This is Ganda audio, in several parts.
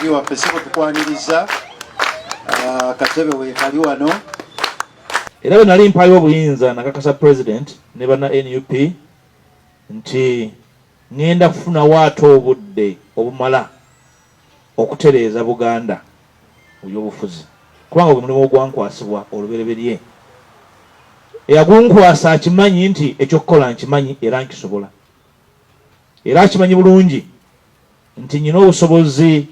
waffe sebo tukwaniriza ah, katebe wekali wano era bwe nali mpayo obuyinza nakakasa president ne bana nup nti ŋŋenda kufunawo ate obudde obumala okutereeza buganda mu byobufuzi kubanga gwe mulimu ogwankwasibwa olubereberye eyagunkwasa akimanyi nti ekyokukola nkimanyi era nkisobola era akimanyi bulungi nti nyina obusobozi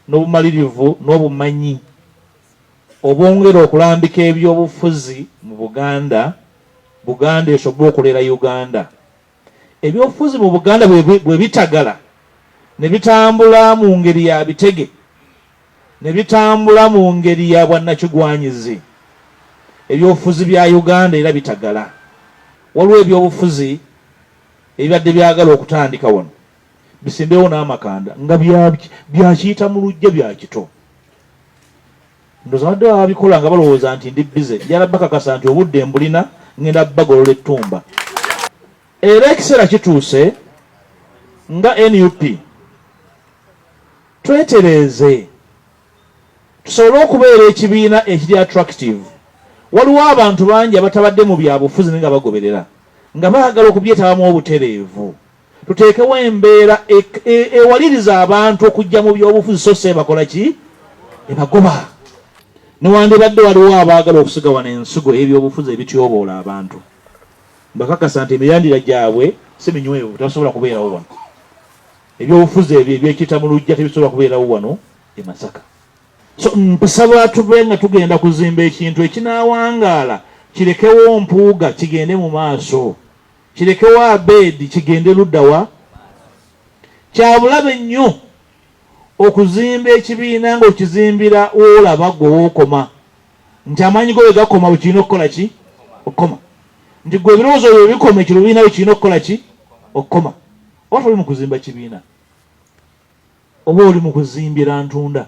n'obumalirivu n'obumanyi obwongera okulambika ebyobufuzi mu Buganda, Buganda esobwe okulera Uganda. Ebyobufuzi mu Buganda bwe bitagala ne bitambula mu ngeri ya bitege, ne bitambula mu ngeri ya bwannakigwanyizi, ebyobufuzi bya Uganda era bitagala. Waliwo ebyobufuzi ebibadde byagala okutandika wano. bisimbewo n'amakanda nga byakiyita mu lujja bya kito ndozabadde babikola nga balowooza nti ndi bize yala bakakasa nti obudde mbulina ngenda bagolola ettumba era ekiseera kituuse nga nup twetereeze tusobole okubeera ekibiina ekiri attractive waliwo abantu bangi abatabadde mu byabufuzi naye nga bagoberera nga baagala okubyetabamu obutereevu Tuteekewo embeera ewaliriza abantu okujja mu byobufuzi so si ebakola ki? Ebagoba. Newandibadde waliwo abaagala okusiga wano ensigo y'ebyobufuzi ebityoboola abantu, mbakakasa nti emirandira gyabwe si minywevu, tebasobola kubeerawo wano. Ebyobufuzi ebyo ebyekita mu lujja tebisobola kubeerawo wano e Masaka. So mpsaba tube nga tugenda kuzimba ekintu ekinaawangaala kirekewo Mpuuga kigende mu maaso. Kirekewo Abed kigende ludda wa? Kyabulabe nnyo okuzimba ekibiina ng'okizimbira w'olaba ggwe w'okoma nti amaanyi go bwe gakoma bwe kirina okukola ki okukoma nti gwe ebirowoozo byo bikoma ekyo lubiina bwe kirina okukola ki okukoma oba toli mu kuzimba kibiina oba oli mu kuzimbira ntunda